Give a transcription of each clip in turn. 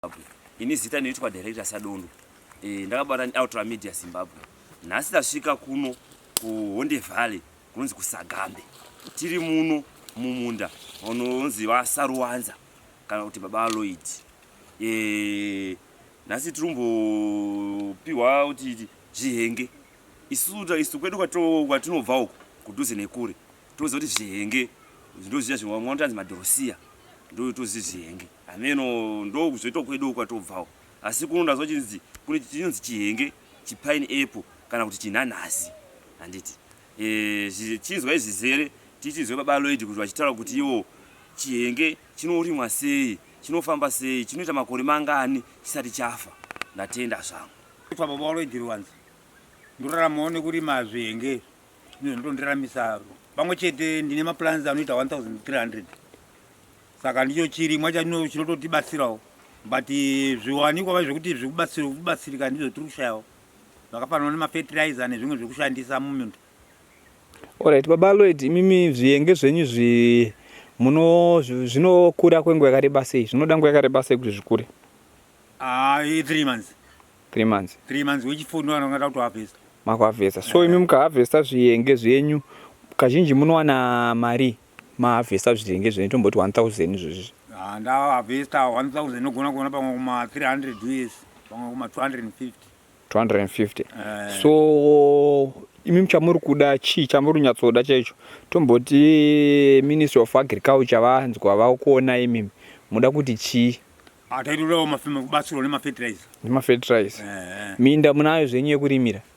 Zimbabwe. Ini zita ndoitwa director Sadondo. Eh ndakabata Ultra Media Zimbabwe. Nhasi tasvika kuno ku Honde Valley kunonzi kuSagambe. Tiri muno mumunda unonzi vaSaruwanza kana kuti baba Lloyd. Eh nhasi tirumbopihwa kuti zvihenge. Isuta isu kwedu kwatinobva uko kudhuze nekure. Toziva kuti zvihenge ndozviya zvimwe vamwe vanotanzi madhorosiya. Ndotoziva zvihenge. Hameno ndokuzoitwa kwedu kwatobvawo asi kuno ndazwa chinzi kune chinonzi chihenge chipine apple kana kuti chinhanhasi handiti eh, zvichichinzwa izvi zere tichinzwe baba loid kuti vachitaura kuti iwo chihenge chinorimwa sei chinofamba sei chinoita makore mangani chisati chafa ndatenda zvangu kwa baba waloid ruwanzi ndoraramawo nekurima zvihenge ndizvo ndondiramisa pamwe chete ndine maplans anoita 1300 saka ndicho chirimwa chatino chinototibatsirawo but zviwanikwa vai zvekuti zvekubatsirika ndizvo tiri kushayawo zvakafanana nemafertilizer nezvimwe zvekushandisa muminda orit baba loid imimi zviyenge zvenyu zvi muno zvinokura kwenguva yakareba sei zvinoda nguva yakareba sei kuti zvikure ah, three months three months three months wechifundo anongada kuti harvesta makuharvesta so imi mukaharvesta zviyenge zvenyu kazhinji munowana mari Ma harvester zvitenge zvenyu tomboti 1000 izvozvi. Ah nda harvester 1000 nogona kuona pamwe kuma 300 years pamwe kuma 250. 250. Eh. So imi muchamuri kuda chii chamuri kunyatsoda chaicho tomboti ministry of agriculture vanzwa vakuona imi muda kuti chii ah, taitodawo kubatsirwa nemafertilizer nemafertilizer eh, eh. minda munayo zvenyu yekurimira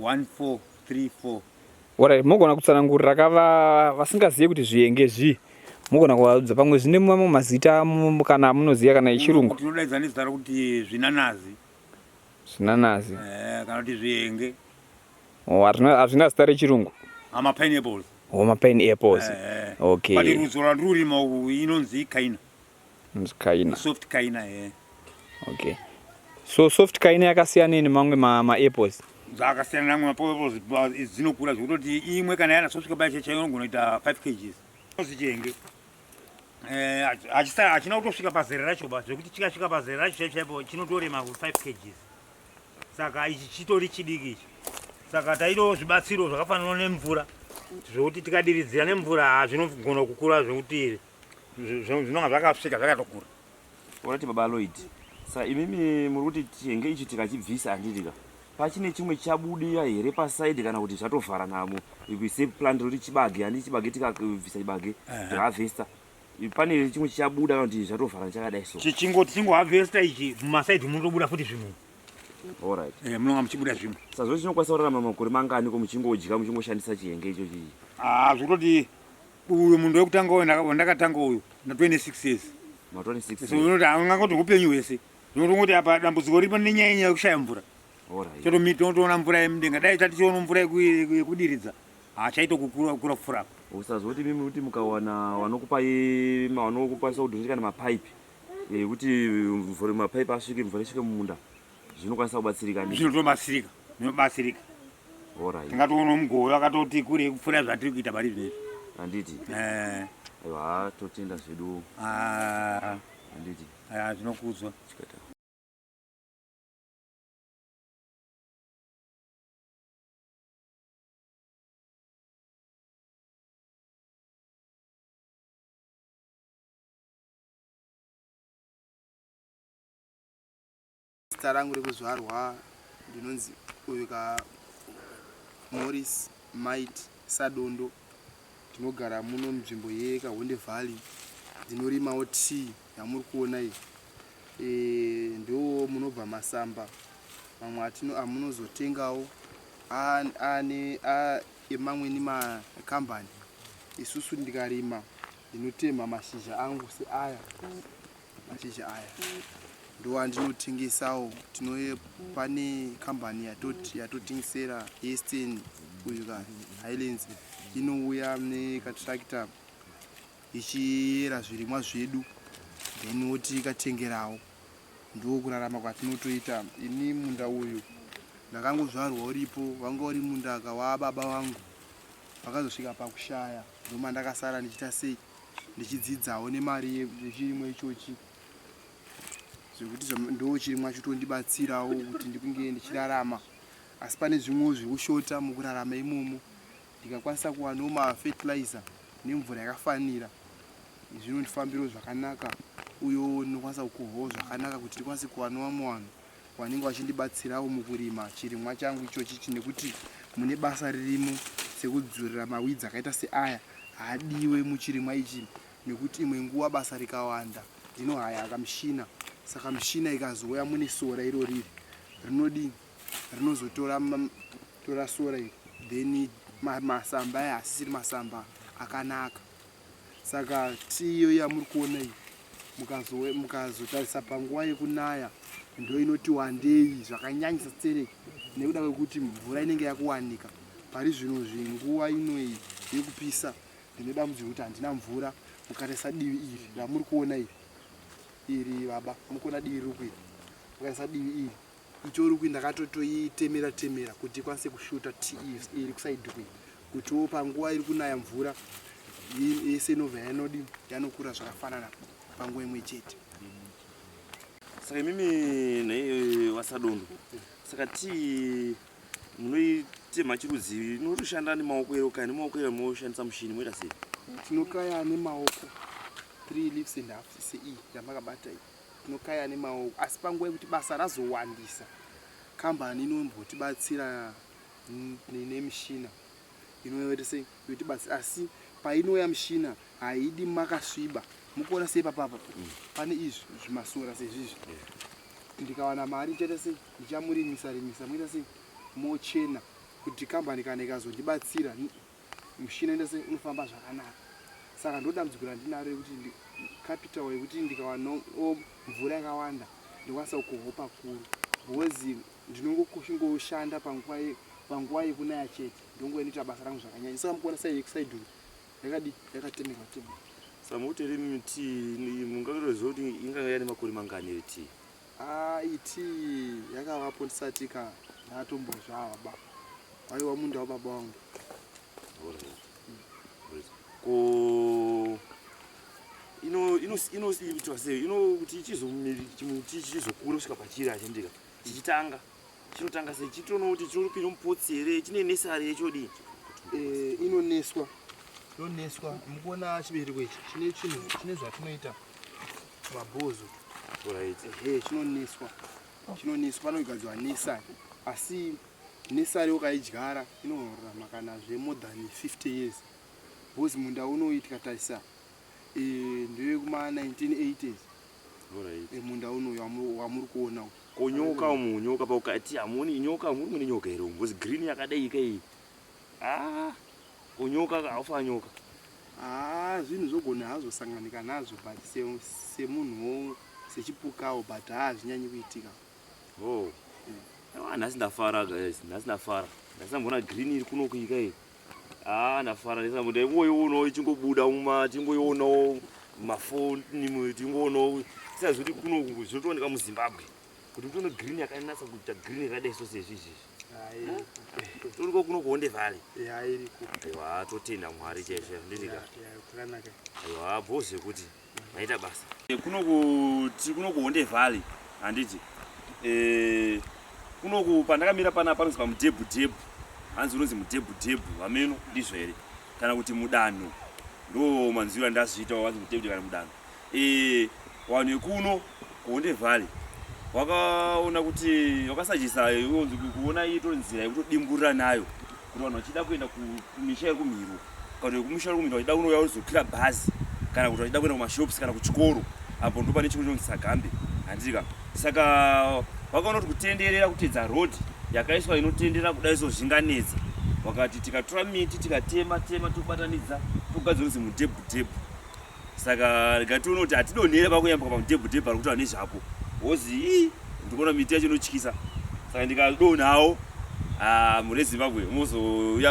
1434 Alright, mogona kutsanangurira ka va- vasingazive kuti zvihenge zvii mogona kuvaudza pamwe zvine mamwe mazita amu- kana amunoziva kana echirungu tinodaidza nezita rokuti zvinanazi zvinanazi eh, kana kuti zvihenge Oh, hazvina hazvina zita rechirungu ama pineapples homa pine apples Eh, but okay rudzo rwandiri kurima uku inonzi ikaina Inonzi kaina. Soft kaina eh. Okay. So soft kaina yakasiyana ne mamwe ma, ma apples. Zvakasiyana namwe ma apples dzinokura zvekutoti imwe kana yana soft kabaya checha inogona kuita 5 kgs. Zvichenge. Eh achisa achina kutosvika pazera racho ba zvekuti chikasvika pazera racho chaipo chaipo chinotorema 5 kgs. Saka ichi chitori chidiki ichi. Saka taido zvibatsiro zvakafanana nemvura. Zvekuti tikadiridzira nemvura hazvinogona kukura zvekuti zvinonga zvakasvika zvakatokura orati baba aloid sa imimi muri kuti chenge ichi tikachibvisa handitika pachine chimwe chabudira here pasaidi kana kuti zvatovhara namo se plant roti chibage handi chibage tikabvisa chibage tihavhesta pane chimwe chichabuda kana kuti zvatovhara chakadai so chichingoti chingohavhesta ichi mumasaidi munotobuda futi zvimwe orit eh, munonga muchibuda zvimwe sazvo chinokwanisa kurarama makore mangani ko muchingodya muchingoshandisa chihenge ichochi haa ah, zvekutoti uyu munhu wekutanga wandakatanga uyu na 26 years unoti angangoti upenyu hwese ndinotongoti apa dambudziko riri pane nyaya nyaya yekushaya mvura totoona mvura yemudenga dai tatichiona mvura yekudiridza hachaitokukura kupfuura apa usazoti mimi kuti mukawana wanokupai wanokukwanisa kudhonzeka nemapaipi ekuti eh, mvura mapaipi asvike mvura isvike mumunda zvinokwanisa kubatsirika ndizvo zvinotobatsirika zvinobatsirika Alright. tingatoona mugove akatoti kure kupfuura zvatiri kuita pari zvinezvi handiti Eh, aiwa haa, totenda zvedu ah, handiti ah, zvinokudzwa chikata Zita rangu rekuzvarwa ndinonzi uyu ka Morris Might Sadondo. Ndinogara muno munzvimbo yeKahonde Valley. Ndinorimawo tea yamuri kuona iyi. E, ndiwo munobva masamba mamwe atino amunozotengawo ane emamweni makambani. Isusu ndikarima ndinotemha mashizha angu seaya. mashizha aya ndowa ndinotengesawo tinoye pane kambani yatotengesera eastern uyu ka highlands inouya nekatractor ichiyera zvirimwa zvedu then woti ikatengerawo ndokurarama kwatinotoita ini munda uyu ndakangozvarwa uripo wanga uri mundaka wababa wangu vakazosvika pakushaya ndoma ndakasara ndichita sei ndichidzidzawo nemari yechirimwa ichochi zvekuti ndo chirimwa chotondibatsirawo kuti ndikunge ndichirarama asi pane zvimwewo zviri kushota mukurarama imomo ndikakwanisa kuwanawo mafetilizer nemvura yakafanira zvinondifambiro zvakanaka uyo ndinokwanisa kukohwawo zvakanaka kuti ndikwanise kuwanawo vamwe vanhu vanenge vachindibatsirawo mukurima chirimwa changu ichochichi nekuti mune basa ririmo sekudzurira mawidzi akaita seaya haadiwe muchirimwa ichi nekuti imwe nguva basa rikawanda ndinohaya kamushina saka mushina ikazouya mune sora iro riri rinodii rinozotora tora sora iri then masamba aya asisiri masamba akanaka saka tiyo yamuri kuona iyi mukazotarisa panguva yekunaya ndoinoti wandei zvakanyanyisa stereki nekuda kwekuti mvura inenge yakuwanika pari zvino zvenguva inoyi yekupisa ndinodambudzirwa kuti handina mvura mukatarisa divi iri ramuri kuona iri iri baba mukuona divi riri kuita mukatarisa divi iri itori kuyi ndakatotoitemera temera kuti ikwanise kushuta ti iri kusaidi kuyi kutiwo panguva iri kunaya mvura yese inobva yanodi yanokura zvakafanana panguva imwe chete saka imimi nei wasadondo saka tii munoitema chirudzii inotoshanda nemaoko ero kaya nemaoko ero moshandisa mushini moita sei tinokaya nemaoko three leaves and half sei yamakabata iyi tinokaya nemaoko asi panguva yekuti basa razowandisa kambani inombotibatsira nemishina inoyotese yotibatsira asi painouya mishina haidi makasviba mukuona sei papapa mm. pane izvi zvimasora sezvizvi ndikawana mari ndichaita sei ndichamurimisa rimisa moita sei mochena kuti kambani kana ikazondibatsira mushina ndese unofamba zvakanaka saka ndodambudziko randinaro yekuti capital yekuti ndikawana mvura yakawanda ndikwanisa kuhopa kuru bhozi ndinongoshingoshanda panguva panguva yekunaya chete ndongo inoita basa rangu zvakanyanya saka mukuona sai yekusaidhu yakadi yakatemerwa temerwa samuti iri miti mungakutoziva kuti inganga yane makore mangani iri tii Ah it yakavapo ndisati ka ndatombozvava ba. Aiwa munda wababa wangu. Ko ino ino ino inoitwa sei ino kuti chizomiri chimuti chizokura kusvika pachiri achendeka chichitanga chinotanga sei chitoona kuti chinopinda mupotsi here chine nesari yechodii Eh, inoneswa yoneswa mukuona chibereko ichi chine chinhu chine zvatinoita Mabhozo. Right. Ehe, chinoniswa. Chinoniswa panogadzwa nisa. Asi nisa reo kaidyara inorarama kana zve more than 50 years. Bhozi munda unoitwa tarisa. Eh, ndewe kuma 1980s. Right. Eh, munda unoyo wamuri kuona uko. Konyoka umu nyoka paukati amuoni nyoka muri mune nyoka here umbozi green yakadai ika iyi. Ah, kunyuka haufa nyuka. Ah, zvinhu zvogona hazvo sanganika nazvo but semunhu wo sechipukawo but ah zvinyanyi kuitika. Oh. Ah, nhasi ndafara guys, nhasi ndafara. Nhasi ndambona green iri kuno kuika iyi. Ah, ndafara ndisa mbuda ingoiona ichingobuda muma tingoiona mafoni tingoona tisazoti kuno zvinotooneka muZimbabwe. kuti utono green yakanatsa kuita green radai so sezvi izvizvi toriko kuno kuonde vhali aiwa totenda mwari chaizvo ndinika aiwa bho zvekuti maita basa kuno kuti kuno kuonde vhali handiti eh, kuno ku pandakamira pana panonzi pamudhebhu dhebhu hanzi unonzi mudhebhu dhebhu hameno ndizvo here kana kuti mudanho ndo manzwiro andazviita wavanzi mudhebhu kana mudanho Eh, vanhu vekuno kuHonde Valley vakaona kuti vakasajisa yonzi kuona itori nzira yekutodimburira nayo kuti vanhu vachida kuenda kumisha yekumhiro kana kuti vekumusha yekumhiro vachida kunouya vozokwira bhazi kana kuti vachida kuenda kumashops kana kuchikoro apo ndo pane chikoro chinonzi Sagambe handiti ka saka vakaona kuti kutenderera kutedza road yakaiswa inotenderera kudai so zvinganetsa vakati tikatora miti tikatema tema tobatanidza togadzira kunzi mudhebhudhebhu saka rega tione kuti hatidonhere pakuyambuka pamudhebhu dhebhu ari kutaura nezvapo wozi ii ndikuona miti yacho inotyisa saka ndikadonawo ah, mune zimbabwe mozouya